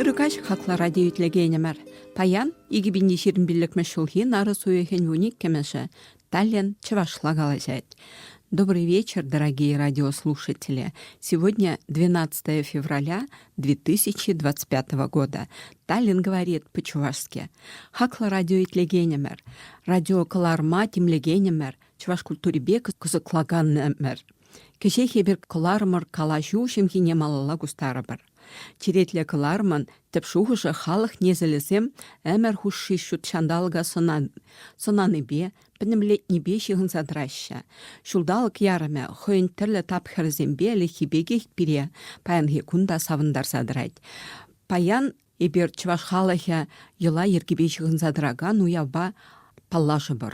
Ыркаҫ хаклӑ радио итлекенӗмӗр. Паян икӗ пин ҫирӗм пиллӗкмӗш ҫулхи нарӑс уйӑхӗн вун иккӗмӗшӗ, Таллин чӑвашла калаҫать. Добрый вечер, дорогие радиослушатели. Сегодня 12 февраля 2025 года. Таллин говорит по-чувашски. Хаклӑ радио итлекенӗмӗр, радио кӑларма тимлекенӗмӗр, чӑваш культурипе кӑсӑклаканӑмӑр. Кӗҫех эпир кӑларӑмӑр калаҫу ҫемйине малалла кустарӑпӑр. Черетлӗ кӑлармӑн тӗп шухӑшӗ халӑх несӗлӗсем ӗмӗр хушши ҫут ҫанталӑка сӑнанипе, пӗтӗмлетнипе ҫыхӑнса тӑраҫҫӗ. Ҫулталӑк ярӑмӗ хӑйӗн тӗрлӗ тапхӑрӗсемпе ӗлӗкхи пекех пире паянхи кун та савӑнтарса тӑрать. Паян эпир чӑваш халӑхӗ йӑла-йӗркипе ҫыхӑнса тӑракан уявпа паллашӑпӑр.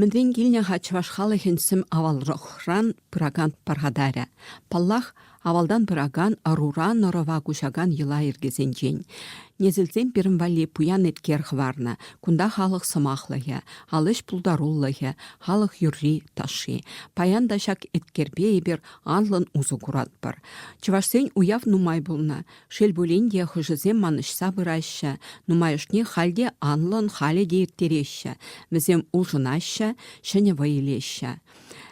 Мӗнрен килнӗ-ха чӑваш халӑхӗн сӗм авалрахран пыракан пархатарӗ? Паллах, авалтан пыракан ӑрура нӑрӑва куҫакан йӑла-йӗркесенчен. Несӗлсем пирӗн валли пуян эткер хӑварнӑ. Кунта халӑх сӑмахлӑхӗ, ал ӗҫ пултарулӑхӗ, халӑх юрри-ташши. Паян та ҫак эткерпе эпир анлӑн усӑ куратпӑр. Чӑвашсен уяв нумай пулнӑ. Шел пулин те, хӑшӗсем манӑҫса пыраҫҫӗ, нумайӑшне халь те анлӑн, халӗ те ирттереҫҫӗ, вӗсем улшӑнаҫҫӗ, ҫӗнӗ вӑй илеҫҫӗ.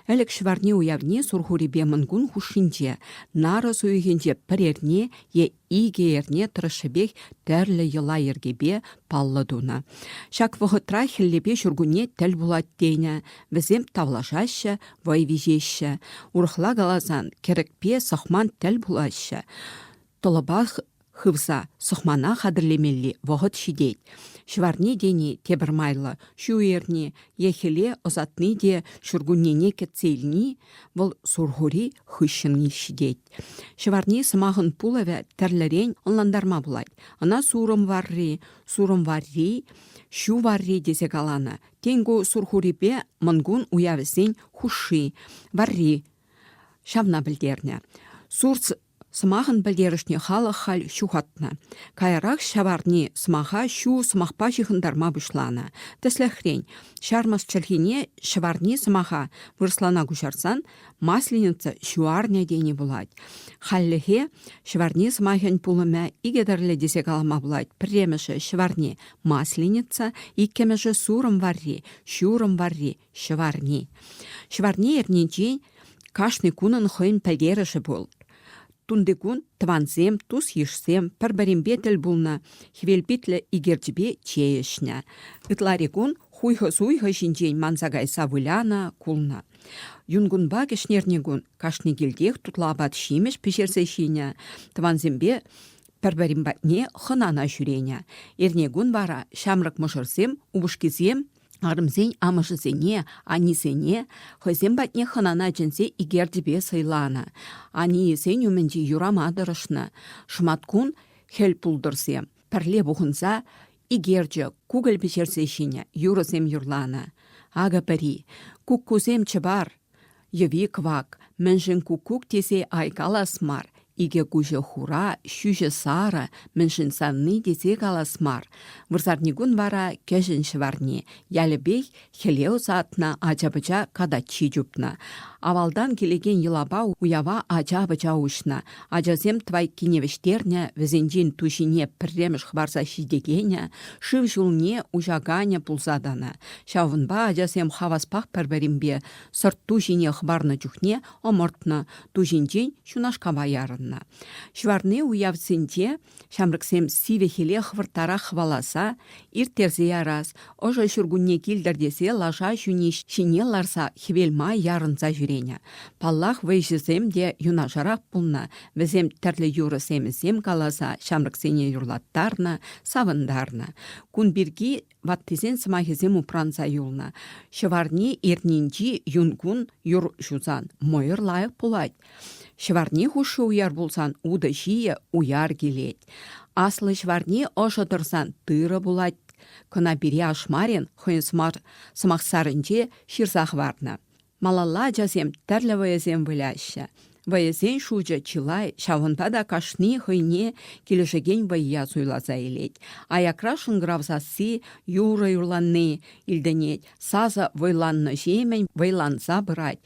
Ӗлӗк ҫӑварни уявне Сурхурипе Мӑнкун хушшинче, нарӑс уйӑхӗнче пӗр эрне е икӗ эрне тӑрӑшшӗпех тӗрлӗ йӑла-йӗркепе паллӑ тунӑ. Ҫак вӑхӑтра хӗллепе ҫуркунне тӗл пулать тенӗ, вӗсем тавлашаҫҫӗ, вӑй виҫеҫҫӗ. Урӑхла каласан, кӗрӗкпе сӑхман тӗл пулаҫҫӗ. Тӑлӑпах хывса сӑхмана хатӗрлемелли вӑхӑт ҫитет. Ҫӑварни тени тепӗр майлӑ. Ҫу эрни е хӗле ӑсатни те ҫуркуннене кӗтсе илни вӑл сурхури хыҫҫӑнни ҫитет. Ҫӑварни сӑмахӑн пулӑвӗ тӗрлӗрен ӑнлантарма пулать. Ӑна сурӑм варри, сурӑм варри, ҫу варри тесе каланӑ. Тенку Сурхурипе Мӑнкун уявӗсен хушши, варри ҫавна пӗлтернӗ. Сурц сӑмахӑн пӗлтерӗшне халӑх халь ҫухатнӑ. Каярах ҫаварни сӑмаха ҫу сӑмахпа ҫыхӑнтарма пуҫланӑ. Тӗслӗхрен, ҫармӑс чӗлхине ҫӑварни сӑмаха вырӑслана куҫарсан Масленица ҫуарне тени пулать. Хальлӗхе ҫӑварни сӑмахӗн пулӑмӗ икӗ тӗрлӗ тесе калама пулать. Пӗрремӗшӗ ҫӑварни масленица, иккӗмӗшӗ сурӑм варри, ҫурӑм варри, ҫӑварни. Ҫӑварни эрнинчен кашни кунӑн хӑйӗн пӗлтерӗшӗ пул. Тунтикун тӑвансем, тус-йышсем пӗр-пӗринпе тӗл пулнӑ, хӗвелпитлӗ икерчӗпе чей ӗҫнӗ. Ытларикун хуйхӑ-суйхӑ ҫинчен манса кайса вылянӑ, кулнӑ. Юнкунпа кӗҫнерни кун кашни килтех тутлӑ апат-ҫимӗҫ пӗҫерсе ҫинӗ. Тӑвансемпе пӗр-пӗрин патне хӑнана ҫӳренӗ. Эрне кун вара ҫамрӑк мӑшӑрсем упӑшкисем арӑмсен амӑшӗсене, аннесене хӑйсем патне хӑнана чӗнсе икертӗпе сӑйланӑ. Анийӗсен умӗнче юрама тӑрӑшнӑ. Шӑматкун хӗл пултӑрсем Пӗрле пухӑнса икерчӗ кукӑль пӗҫерсе ҫинӗ, юрӑсем юрланӑ. Акӑ пӗри «Куккусем чӑпар!» йӑви-кӑвак, мӗншӗн куккук тесе айкалас мар, икӗ куҫӗ хура, ҫӳҫӗ сарӑ, мӗншӗн савни тесе калас мар. Вырсарникун вара кӗҫӗн ҫӑварни, ялӗпех Хӗле ӑсатнӑ ача-пӑча катаччи чупнӑ. Авалтан килекен йӑлапа уява ача-пӑча уҫнӑ. Ачасем твайккине вӗҫтернӗ, вӗсенчен туҫине пӗрремӗш хӑварса ҫитекенӗ, шыв ҫулне уҫаканӗ пулса тӑнӑ. Ҫавӑнпа ачасем хаваспах пӗр-пӗринпе сӑрт ту ҫине хӑварнӑ чухне ӑмӑртнӑ, ту ҫинчен ҫунашкапа ярӑннӑ. Ҫӑварни уявсенче Ҫамрӑксем сивӗ хӗле хӑвӑрттарах хӑваласа, ирттерсе ярас, ӑшӑ ҫуркунне килтӗр тесе лаша ҫӳни ҫине ларса хӗвел май ярӑнса ҫӳренӗ. Паллах, вӑйҫӑсем те юнашарах пулнӑ, вӗсем тӗрлӗ юрӑ-семӗсем каласа ҫамрӑксене юрлаттарнӑ, савӑнтарнӑ. Кун пирки ваттисен сӑмахӗсем упранса юлнӑ. Ҫӑварни эрнинчи юн кун юр ҫусан мӑйӑр лайӑх пулать. Ҫӑварни хушши уяр пулсан утӑ ҫийӗ уяр килет. Аслӑ ҫӑварни ӑшӑ тӑрсан тырӑ пулать. Кӑна пире ашмарин хӑйӗн сӑмахсарӗнче ҫырса хӑварнӑ. Малалла ачасем тӗрлӗ вӑйӑсем выляҫҫӗ. Вӑйӑсен шучӗ чылай, ҫавӑнпа та кашни хӑйне килӗшекен вӑййа суйласа илет. Аякра шӑнкӑрав сасси, юрӑ юрланни илтӗнет, сасӑ вӑйланнӑҫемӗн вӑйланса пырать.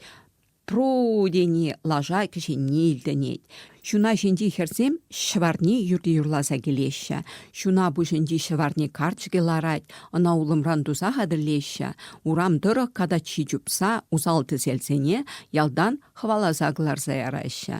Тру тени лаша кӗҫенни илтӗнет. Ҫуна ҫинчи хӗрсем ҫӑварни юрти юрласа килеҫҫӗ. Ҫуна пуҫӗнчи ҫӑварни карчӑкӗ ларать, ӑна улӑмран туса хатӗрлеҫҫӗ. Урам тӑрӑх катаччи чупса усал-тӗселсене ялтан хӑваласа кӑларса яраҫҫӗ.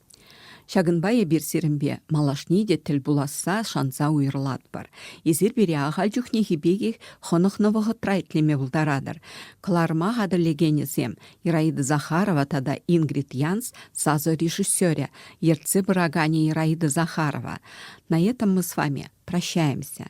Ҫакӑнпа эпир сирӗнпе малашне те тӗл пуласса шанса уйрӑлатпӑр. Эсир пире ахаль чухнехи пекех хӑнӑхнӑ вӑхӑтра итлеме пултаратӑр. Кӑларӑма хатӗрлекенӗсем Ираида Захарова тата Ингрид Янс сасӑ режиссерӗ, ертсе пыраканӗ Ираида Захарова. На этом мы с вами прощаемся.